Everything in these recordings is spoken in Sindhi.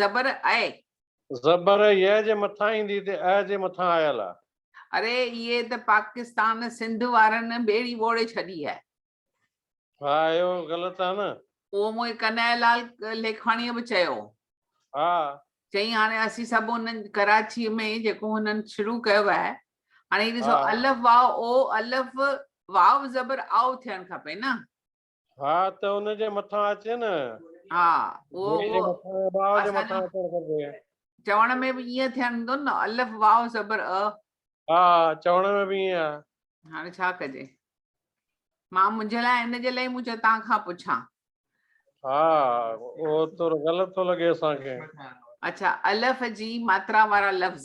زبر اي. زبر يء جي مٿان ايندي تي اء جي مٿان آيل آ. اري اهي ته پاڪستان سنڌ وارن ٻيڙي ٻوڙي ڇڏي آهي. ها اهو غلط آ نه. اهو مون کي ڪنهن لال ليکواڻيء به چيو هو. ها. چئي هاڻي اسين سڀ ان ڪراچيء ۾ جيڪو هنن شروع ڪيو آهي هاڻي هي ڏسو الف واء او الف واء زبر آء ٿيڻ کپي نه. ها ته ان جي مٿان اچي نه ها چوڻ ۾ به ائين ٿيندو نه الف واو زبر ا ها چوڻ ۾ به ائين آ هاڻي ڇا ڪجي مان منهنجي لاء ان جي لاء مون چيو تان کان پڇان ها او تو غلط ٿو لڳي اسان کي اچھا الف جي ماترا وارا لفظ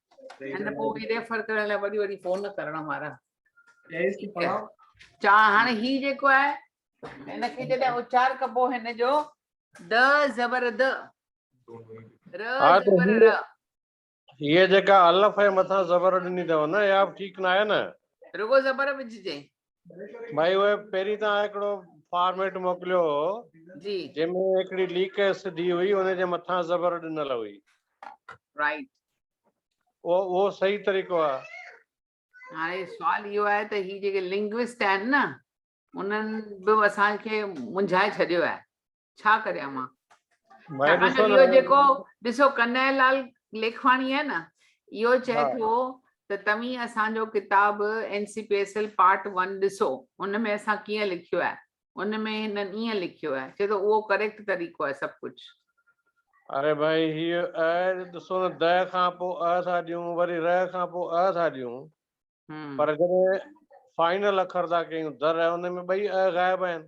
ان پو هي ريفر ڪرڻ لاء وڏي وڏي فون ڪرڻ وارا چا هاڻي هي جيڪو آهي هن کي جڏهن اچار ڪبو هن جو د زبر د ر زبر ر هي جيڪا الف ۽ مٿان زبر ڏني اٿو نه يا ٺيڪ نه آهي نه رڳو زبر وجهجي ڀائي اهي پهرين تان هڪڙو فارميٽ موڪليو هو جي جنهن ۾ هڪڙي ليڪ ايس ڊي هئي ان جي مٿان زبر ڏنل هئي رائيٽ او او صحيح طريقو آ هاڻي سوال اهو آهي ته هي جيڪي لنگوسٽ آهن نه انهن به اسان کي منجهائي ڇڏيو آهي ڇا ڪريان مان ڇاڪاڻ جو اهو جيڪو ڏسو ڪنهن لال ليکواڻي آهي نه اهو چئي ٿو ته توهين اسانجو ڪتاب N C P S L part one ڏسو ان ۾ اسان ڪيئن لکيو آهي ان ۾ هنن ائين لکيو آهي چئي ٿو اهو ڪريڪٽ طريقو آهي سڀ ڪجهه اري ڀائي هي ا ڏسو نه د کان پوء ا ٿا ڏيون وري ر کان پوء ا ٿا ڏيون پر جڏهن فائنل اکر ٿا ڪيون در ۽ ان ۾ ٻئي ء غائب آهن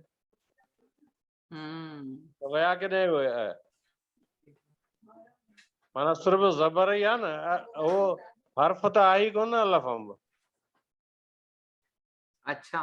ته ويا ڪيڏانهن اهي ء مانا صرف زبر ئي آهي نه اهو حرف ته آهي ڪونه الف انب اڇا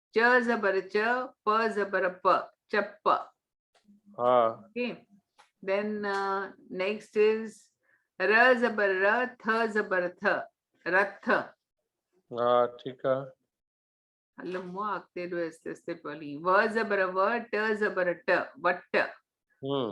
چ زبر چ پ زبر پ چپ ها اوڪي دين نيڪسٽ از ر زبر ر ٿ زبر ٿ رٿ ها ٺيڪ آ هل مو اڳتي ڏو اس اس تي پلي و زبر و ٽ زبر ٽ وٽ هم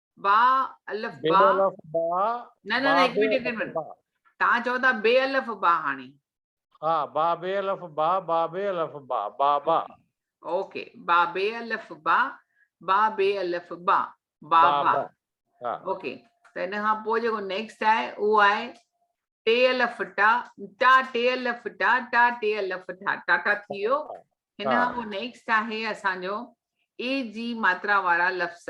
با الف با بي الف با نه نه با نه هڪ بي منٽ هڪ الف منٽ با تان چئو ٿا بي الف با هاڻي ها با بي الف با با بي الف با با با اوڪي با بي الف با با بي الف با با با با با ها اوڪي ته ان کان پوء جيڪو نيڪسٽ آهي اهو آهي ٽي الف ٽا ٽا ٽي الف ٽا ٽا ٽي الف ٺا ٽاٽا ٿي ويو ها هن ها کان پوء نيڪسٽ آهي اسانجو اي جي ماترا وارا لفظ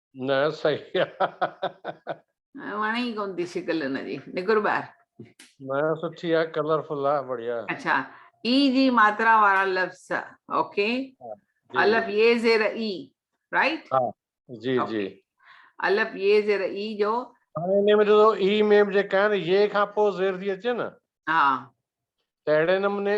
نه صحيح آ. وڻي ئي ڪون ٿي شڪل ان جي نڪر ٻاهر. نه سٺي آ ڪلر فل آ بڙيا. اڇا اي جي ماترا وارا لفظ اوڪي الف يي زير اي رائيٽ ها جي جي الف يي زير اي جو هاڻي ان جو اي ميم جيڪا آهي نه يي کان پوء زير ٿي اچي نه ها ته اهڙي نموني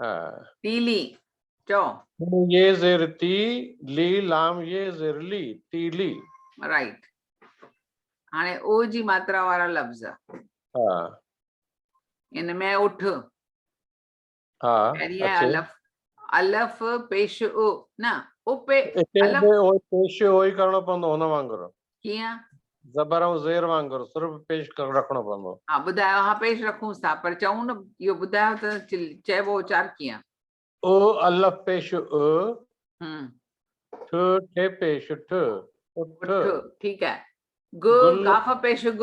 ها. تيلي، چؤ. تون يي زير تي لي لام يي زير لي، تيلي. رائيٽ. هاڻي او جي ماترا وارا لفظ. ها. ان ۾ اٺ. ها. پهرين آهي الف. الف پيش او نه. او پي الف. او پيش او ئي ڪرڻو پوندو هن وانگر. ڪيئن؟ زبر ۽ زير وانگر سر به پيش رکڻو پوندو. ها ٻڌايو ها پيش رکونس ٿا پر چئون نه اهو ٻڌايو ته چئبو اچار ڪيئن؟ اء الف پيش اء، ٺ ٺي پيش ٺ، اٺ. اٺ ٺيڪ آهي. گ ڪاف پيش گ،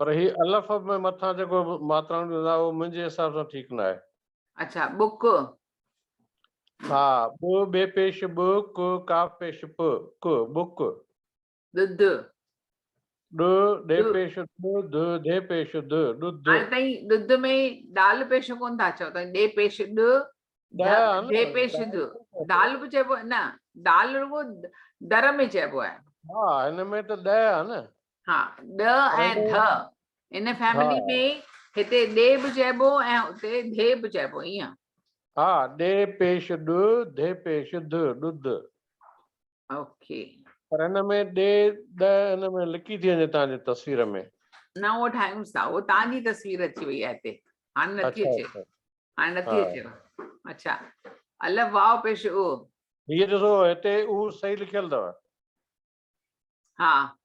پر هي الف ۾ مٿان جيڪو ماترائون ڏنل آهي اهو منهنجي حساب سان ٺيڪ نه آهي. اڇا بڪ. ها ٻ ٻي پيش ٻ ڪ قاف پيش پ ڪ بڪ. ڏڌ. ڏ ڏي پيش ڏ ڌ ڌي پيش ڌ ڏڌ. هاڻي تائين ڏڌ ۾ ڏال پيش ڪون ٿا چئو تائين ڏي پيش ڏ ڌ ڌي پيش ڌ ڏال به چئبو نه ڏال رڳو در ۾ چئبو آهي. ها هن ۾ ته ڏ آهي نه. ها ڏ ۽ ڌ ان فيملي ۾ هتي ڏي به چئبو ۽ اتي ڌي به چئبو ايئن. ها ڏي پيش ڏ ڌي پيش ڌ ڏڌ. اوڪي. پر هن ۾ ڏي ڏ هن ۾ لڪي ٿي وڃي تان جي تصوير ۾. نه اهو ٺاهيونس ٿا اهو تان جي تصوير اچي وئي آهي هتي هاڻي نه ٿي اچي هاڻي نه ٿي اچي اڇا الف واء پيش او. هي ڏسو هتي او صحيح لکيل اٿو. ها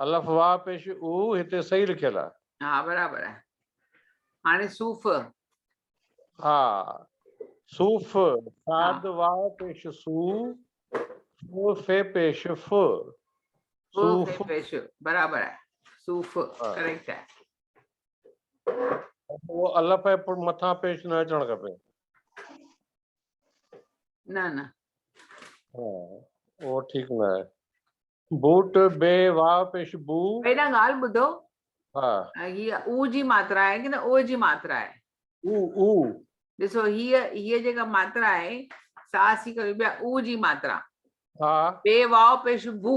الف واء پيش او هتي صحيح لکيل آ. ها برابر آهي هاڻي صوف. ها صوف صاد واء پيش سو فو في پيش ف صوف پيش برابر آهي صوف ڪريڪٽ آهي. الف مٿان پيش نه اچڻ کپي. نه نه اهو ٺيڪ نه آهي بوٽ بي وا پيش بو پهريان ڳالهه ٻڌو ها هي او جي ماترا آهي ڪي نه او جي ماترا آهي او او ڏسو هي هي جيڪا ماترا آهي سا سي ڪري بيا او جي ماترا ها بي وا پيش بو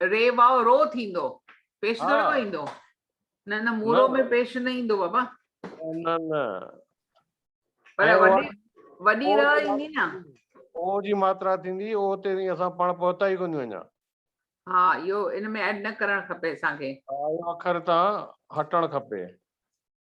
ري واء رو ٿيندو پيش ٿوري ڪو ايندو نه نه مورو ۾ پيش نه ايندو بابا نه نه پر وڏي وڏي ر ايندي نه او جي ماترا ٿيندي او تي اسان پاڻ پهتا ئي ڪونيون اڃا ها اهو ان ۾ ايڊ نه ڪرڻ کپي اسان کي اهو اکر تان هٽڻ کپي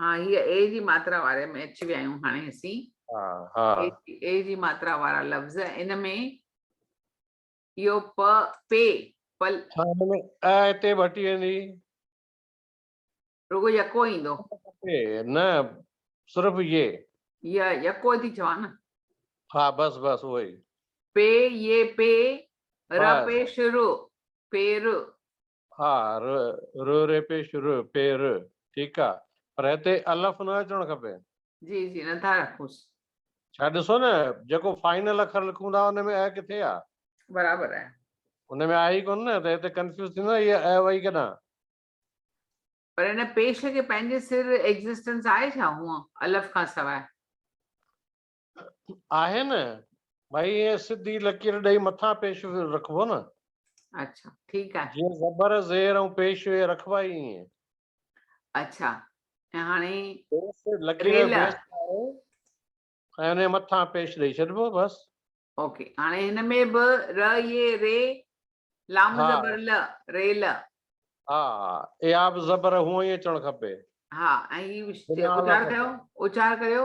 ها هي اي جي ماترا واري ۾ اچي ويا آهيون هاڻي اسين اي جي ماترا وارا لفظ ان ۾ اهو پ پ پل ها ان ۾ ا هتي به هٽي ويندي رڳو يڪو ايندو نه صرف يه يه يڪو ٿي چوان نه ها بس بس اهو ئي پي يه پي ر پي شروع پير ها ر ر ري پيش ر پي ر ٺيڪ آ پر هتي الف نه اچڻ کپي. جي جي نه ٿا رکونس. ڇا ڏسو نه جيڪو فائنل اکر لکون ٿا ان ۾ ء ڪٿي آ. برابر آهي. ان ۾ آهي ئي ڪونه نه ته هتي ڪنفيوز ٿيندو نه هي ء وئي ڪيڏانهن. پر ان پيش کي پنهنجي سر ايگزسٽنس آهي ڇا هونء الف کان سواء. آهي نه ڀائي ايئن سڌي لڪير ڏئي مٿان پيش رکبو نه اڇا ٺيڪ آهي جيئن زبر زير ۽ پيش ويش رکبا ئي ايئن اڇا ۽ هاڻي لڪير بيس آهي ۽ ان مٿان پيش ڏئي ڇڏبو بس اوڪي هاڻي هن ۾ به ر اي ري لام زبر ل ري ل ها اي آب زبر هو اي چڻ کپي ها اي اچار ڪيو اچار ڪيو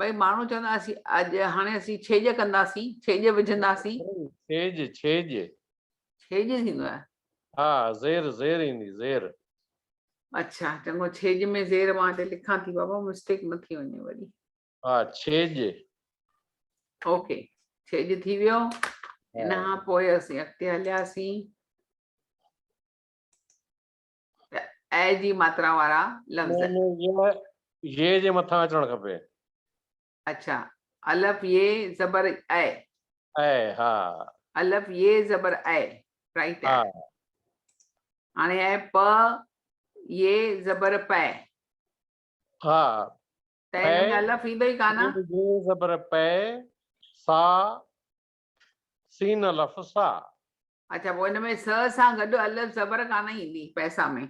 ڀئي ماڻهو چوندا اسين اڄ هاڻي اسين ڇيڄ ڪنداسين ڇيڄ وجهنداسين ڇيڄ ڇيڄ ڇيڄ ٿيندو آهي ها زير زير ايندي زير اڇا چڱو ڇيڄ ۾ زير مان هتي لکان ٿي بابا مسٽيڪ نه ٿي وڃي وري ها ڇيڄ اوڪي ڇيڄ ٿي ويو ان کان پوء اسين اڳتي هلياسين ته اء جي ماترا وارا لفظ. م م ي ي جي مٿان اچڻ کپي. اڇا الف ي زبر اء. اء ها. الف ي زبر اء رائٽ ها. هاڻي اء پ ي زبر پئ. ها ته هن ۾ الف ايندو ئي ڪانه. ي زبر پئ سا سين الف سا. اڇا پوء ان ۾ س سان گڏ الف زبر ڪانه ايندي پئسا ۾.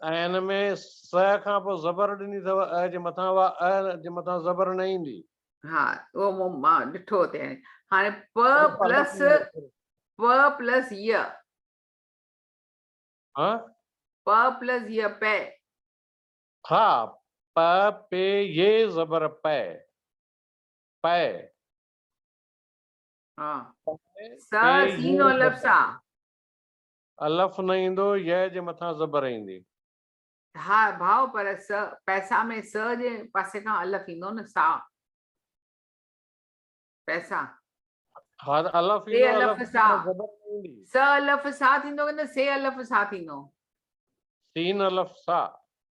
۽ ان ۾ س کان پوء زبر ڏني اٿو ء جي مٿان اها ء جي مٿان زبر نه ايندي. ها اهو مون مان ڏٺو اتي هاڻي هاڻي پ پلس پ پلس ي ها پ پلس ي پئ ها پ پي ي زبر پئ پئ س سين الف سا الف نه ايندو ي جي مٿان زبر ايندي ها ڀاو پر س پئسا ۾ س جي پاسي کان الف ايندو نه سا پئسا ها الف سي ايندو الف الف سا سان زبر نه ايندي س الف سا ٿيندو ڪي نه سي الف سا ٿيندو سين الف سا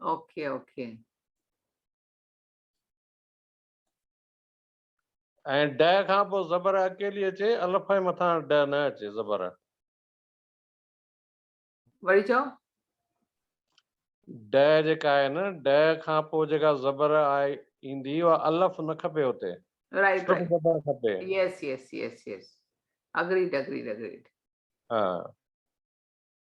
اوکي اوکي. ۽ ڊء کان پوء زبر اڪيلي اچي الف ۽ مٿان ڊء نه اچي زبر. وري چئو. ڊء جيڪا آهي نه ڊء کان پوء جيڪا زبر آهي ايندي اها الف نه کپي اتي رائٽ صرف رائٽ زبر کپي yes yes yes yes agreed agreed agreed ها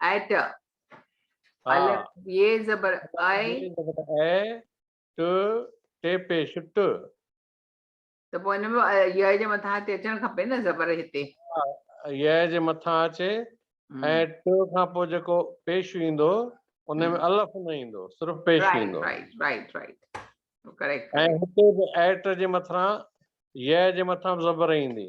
ايٽ الف ي زبر اي زبر اي ٽ ٽي پيش ٽ ته پوء ان ۾ ي جي مٿان اچي اچڻ کپي نه زبر هتي ي جي مٿان اچي ۽ ٽ کان پوء جيڪو پيش ايندو ان ۾ الف نه ايندو صرف پيش ايندو رائٽ رائٽ رائٽ ڪريڪٽ ۽ هتي به ايٽ جي مٿان ي جي مٿان زبر ايندي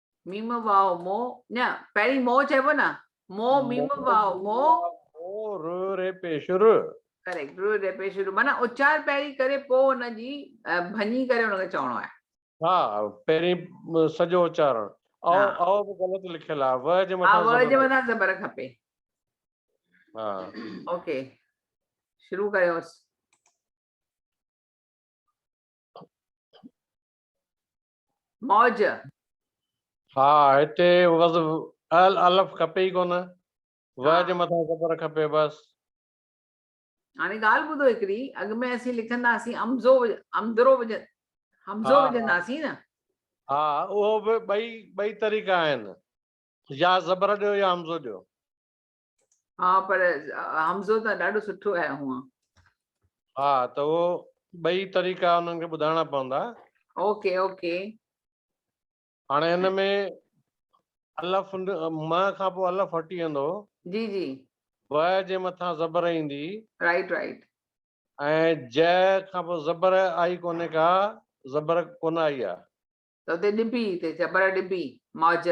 ميم واء مو نه پهرين مو چئبو نه مو ميم واء مو ر ري پيش ر ڪريڪٽ ر ري پيش ر معنی اچار پهرين ڪري پو ان جي ڀڃي ڪري ان کي چوڻو آهي ها پهرين سڄو اچارڻ او او به غلط لکيل آهي و جي مٿان و جي مٿان زبر کپي ها اوڪي شروع ڪريوس موج. ها هتي وضع ال الف کپي ئي ڪونه و ها. جي مٿان زبر کپي بس. هاڻي ڳالهه ٻڌو هڪڙي اڳ ۾ اسين لکنداسين امزو امدرو وجه همزو ها وجهنداسين نه. ها اهو به ٻئي ٻئي طريقا آهن يا زبر ڏيو يا همزو ڏيو. ها پر حمزو ته ڏاڍو سٺو آهي هونء ها ته اهو ٻئي طريقا انهن کي ٻڌائڻا پوندا اوڪي اوڪي هاڻي هن ۾ الف م کان پوء الف هٽي ويندو جي جي و جي مٿان زبر ايندي رائٽ رائٽ ۽ ج کان پوء زبر آئي ڪونهي ڪا زبر ڪونه آئي آ ته ڏبي ته زبر ڏبي ماج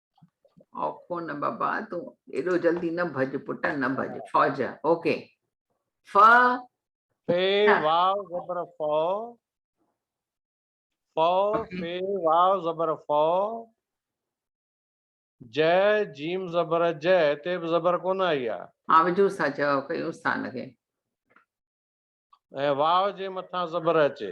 اوکو نه بابا تون ايڏو جلدي نه ڀڄ پٽ نه ڀڄ فوج اوڪي ف في واو زبر فو فو في واو زبر فو ج جيم زبر ج هتي به زبر ڪونه آئي آ ها وجو سا چا کي استان کي ۽ واو جي مٿان زبر اچي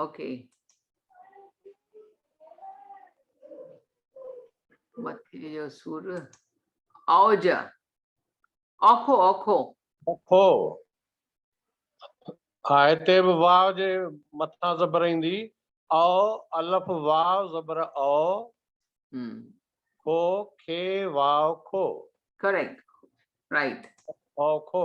اوڪي مٿي جو سور اوج اوکو اوکو اوکو ها هتي به واو جي مٿان زبر ايندي او الف واو زبر او کو کي واو کو ڪريڪٽ رائٽ او کو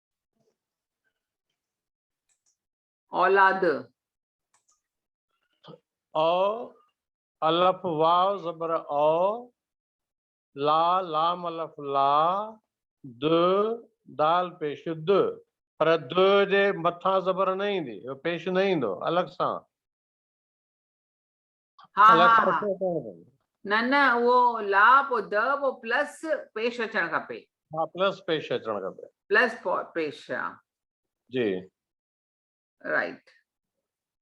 اولاد. اؤ، الف واو زبر او، لا لام الف لا، د دال پيش د، پر د جي مٿان زبر نه ايندي، پيش نه ايندو، الڳ سان. ها ها ها نه نه اهو لا پو د پو پلس پيش اچڻ کپي ها پلس پيش اچڻ کپي پلس پيش ها جي رائٽ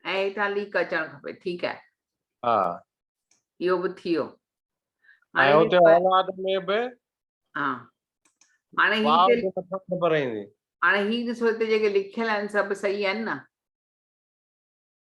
۽ هيٺان ليڪ اچڻ کپي ٺيڪ آهي ها اهو به ٿي ويو هاڻي هتي اولاد ۾ به ها هاڻي هي هاڻي هي ڏسو هتي جيڪي لکيل آهن سڀ صحيح آهن نه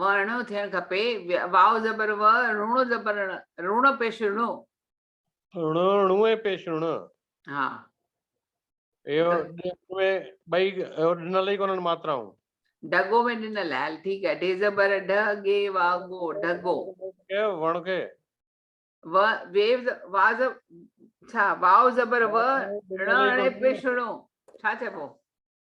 وڻڻو ٿيڻ کپي، واو زبر و، رڻو زبر ڻ، رڻ پيش رڻو. رڻو رڻو ۽ پيش رڻ. ها. اهو ٻئي ڏنل ئي ڪونهن ماترائون. ڍڳو ۾ ڏنل آهي، هل ٺيڪ آهي، ڍي زبر ڍ، ڳي وا ڳو، ڍڳو. وڻ کي. و ويو وا ڇا واو زبر و، رڻ رڻي پيش رڻو ڇا چئبو؟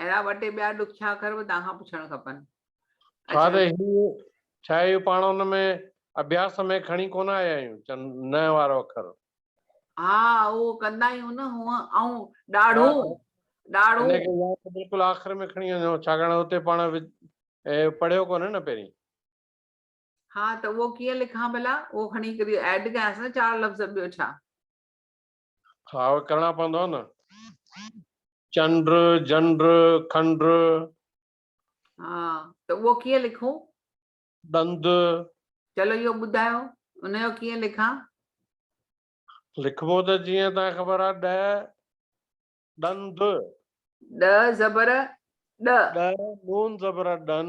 اهڙا ٻه ٽي ٻيا ڏکيا اکر به توهان کان پڇڻ کپن. ها ته هي ڇا اهو پاڻ ان ۾ اڀياس ۾ کڻي ڪونه آيا آهيون چن ن وارو اکر. ها اهو ڪندا آهيون نه هونء ائون ڏاڙهون ڏاڙهون. ان کي يا ته بلڪل آخر ۾ کڻي وڃو ڇاڪاڻ اتي پاڻ پڙهيو ڪونهي نه پهرين. ها ته اهو ڪيئن لکان ڀلا اهو کڻي ڪري ايڊ ڪيانس نه چار لفظ ٻيو ڇا. ها اهي ڪرڻا پوندا نه. چنڊ، جنڊ، کنڊ. ها ته اهو ڪيئن لکون؟ ڏند. چلو اهو ٻڌايو ان جو ڪيئن لکان؟ لکبو ته جيئن تان خبر آ ڏ ڏند. ڏ زبر ڏ. ڏ نون زبر ڏن.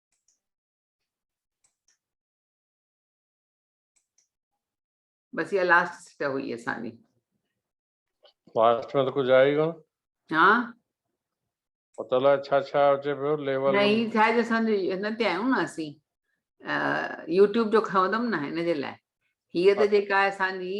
بس يا لاسٽ سٽ هئي اسان جي لاسٽ ۾ ڪجهه آئي ڪون ها پتو لا ڇا ڇا اچي پيو ليول نه هي ڇا جو اسان جو هن تي آيون نه اسين يوٽيوب جو کندم نه هن جي لاء هي ته جيڪا اسان جي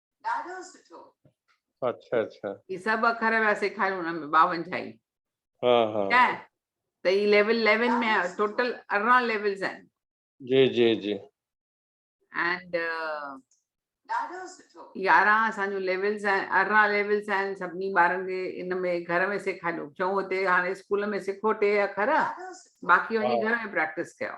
ڏاڍو سٺو اچھا اچھا هي سڀ اکر ويا سيکاريون ان ۾ 52 هي ها ها ٺيڪ آهي ته هي ليول 11 ۾ ٽوٽل 18 ليولز آهن جي جي جي اینڊ ڏاڍو سٺو 11 اسان جو ليولز آهن 18 ليولز آهن سڀني ٻارن کي ان ۾ گهر ۾ سيکاريو چون هتي هاڻي اسڪول ۾ سکو ٽي اکر باقي وڃي گهر ۾ پريڪٽس ڪيو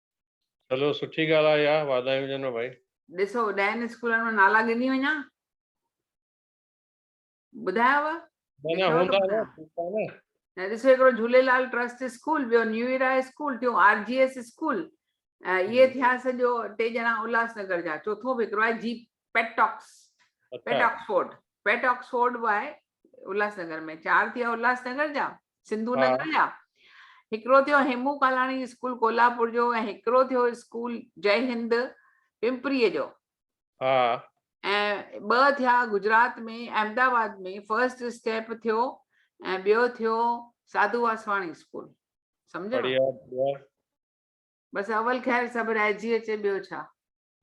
چلو سٺي ڳالهه آهي يار واڌايون هجنو ڀائي. ڏسو ڏهن اسڪولن مان نالا ڳني وڃان ٻڌاياو. ڏسو هڪڙو جھوليلال ٽرسٽ اسڪول ٻيو نيو ايرا اسڪول ٽيون آر جي ايس اسڪول اهي ٿيا سڄو ٽي ڄڻا الهاس نگر جا چوٿون به هڪڙو آهي جي پيٽاڪس پيٽ آڪسفورڊ پيٽ آڪسفورڊ به آهي الهاسنگر ۾ چار ٿي ويا الهاسنگر جا سنڌو نگر جا هڪڙو ٿيو هيمو ڪالاڻي اسڪول ڪولهاپور جو ۽ هڪڙو ٿيو اسڪول جي هند پمپري جو ۽ ٻه ٿيا گجرات ۾ احمدآباد ۾ فرسٽ اسٽيپ ٿيو ۽ ٻيو ٿيو ساڌو واسواڻي اسڪول سمجھو بس اول خير سڀ رهجي اچي ٻيو ڇا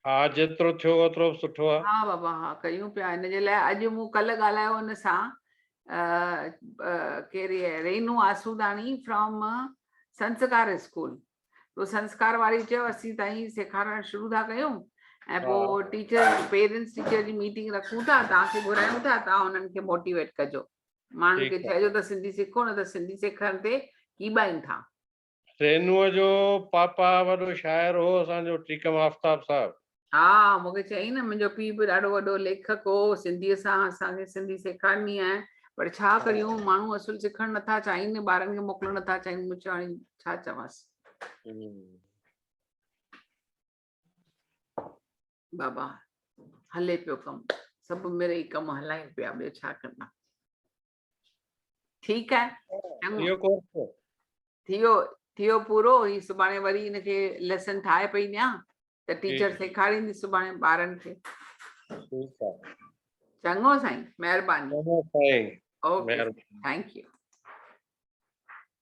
ها جيترو ٿيو اوترو به سٺو آ. ها بابا ها ڪيون پيا ان جي لاء اڄ مون ڪلهه ڳالهايو ان سان ڪير هي رينو آسوداڻي فرام سنسڪار اسڪول تو سنسڪار واري چيو اسين ته ائين سيکارڻ شروع ٿا ڪيون ۽ پوء ٽيچر پيرنٽس ٽيچر جي ميٽنگ رکون ٿا توهان کي گهرايون ٿا توهان انهن کي موٽيويٽ ڪجو ماڻهن کي چئجو ته سنڌي سکو نه ته سنڌي سکڻ تي ڪيٻائين ٿا رينوء جو پاپا وڏو شاعر هو اسان جو ٽيڪم آفتاب صاحب. ها مون کي چيائين نه منهنجو پيء به ڏاڍو وڏو ليکڪ هو سنڌيء سان اسان کي سنڌي سيکارڻي آهي پر ڇا ڪريون ماڻهو اصل سکڻ نه ٿا چاهين ٻارن کي موڪلڻ نه ٿا چاهين مون چيو هاڻي ڇا چوانس بابا هلي پيو ڪم سڀ مڙئي ڪم هلائين پيا ٻيو ڇا ڪندا ٺيڪ آهي ٿيو ڪورس ٿيو ٿيو پورو هي سڀاڻي وري ان کي ليسن ٺاهي پئي ڏيان ته ٽيچر سيکاريندي سڀاڻي ٻارن کي ٺيڪ آهي چڱو سائين مهرباني چڱو سائين اوڪي ٿينڪ يو